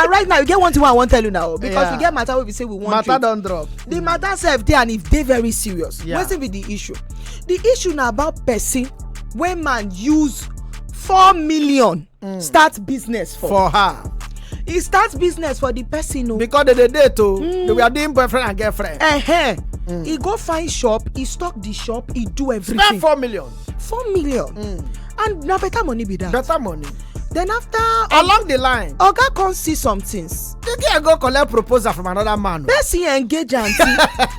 and right now you get one thing i wan tell you now because yeah. we get matter wey be say we wan matter don drop the matter sef dey and e dey very serious yeah. wetin be the issue the issue na about person wey man use four million mm. start business for for her e start business for the person o. Oh. because they dey date o oh. mm. they were doing boyfriend and girlfriend. Uh -huh. mm. e go find shop e stock the shop e do everything. spend four million. four million mm. and na better money be that. better money. then after. along the line. oga come see some things. the girl go collect proposal from another man. person engage am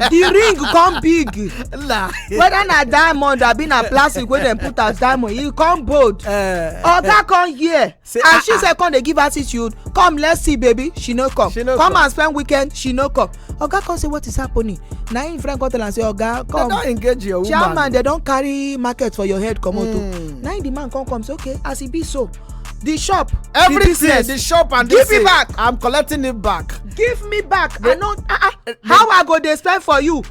the ring come big. La. whether na diamond abi na plastic wey dem put as diamond e come bold. Uh, oga come hear. Say, and ah, she ah. said, come they give attitude come let's see baby she no come she no come, come and spend weekend she no come oga come say what is happening na him friend come tell am say oga come they don engage your woman chairman they don carry market for your head comot o oh. hmm. na him the man come come say okay as e be so the shop everything the, business, the shop and give me back i'm collecting it back give me back the, i no ah ah how i go dey spend for you